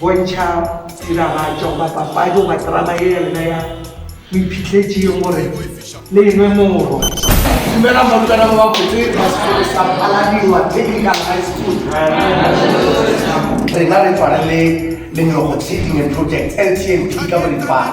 Bontšha tiragatšo goba papadi goba terama ye ya lena ya moiphihledi ye gore le e nwe morwa. Dumela barutwana ba babotse ba sekolo sa Phaladiwa Technical High School. Rena re tswalele Lenyoko Tsheding and Projects, LTMP, ka boripana.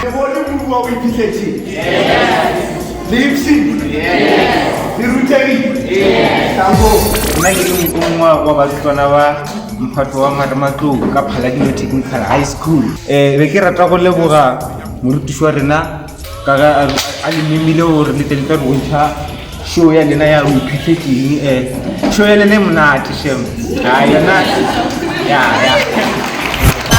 Ke bone kudu wa o iphihletse. Le ipshile. Le rutegile. Tamo. Nna ke le mokongwa wa barutlwana ba mphato wa marematlou ka phaladimo technical high school um be ke rata go leboga morutiši wa rena ka ge a le memile gore le tle le tla re bontšha show ya lena ya o ithutse keng um show ya lena e monate shem a yona ya ya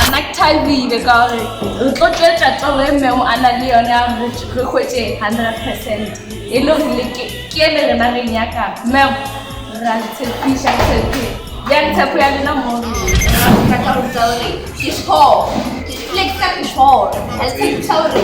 ana ke thabile ka gore re tlo tswetsa toro e mmeo a na le yone ya gore re hwetse hundred percent e le gore le ke ke ele rena re nyaka mmeo ra le tshepiša tshepe ya tshepo ya lena mo rena ka go tsa gore ke sure le ke ka ke sure a tshepiša gore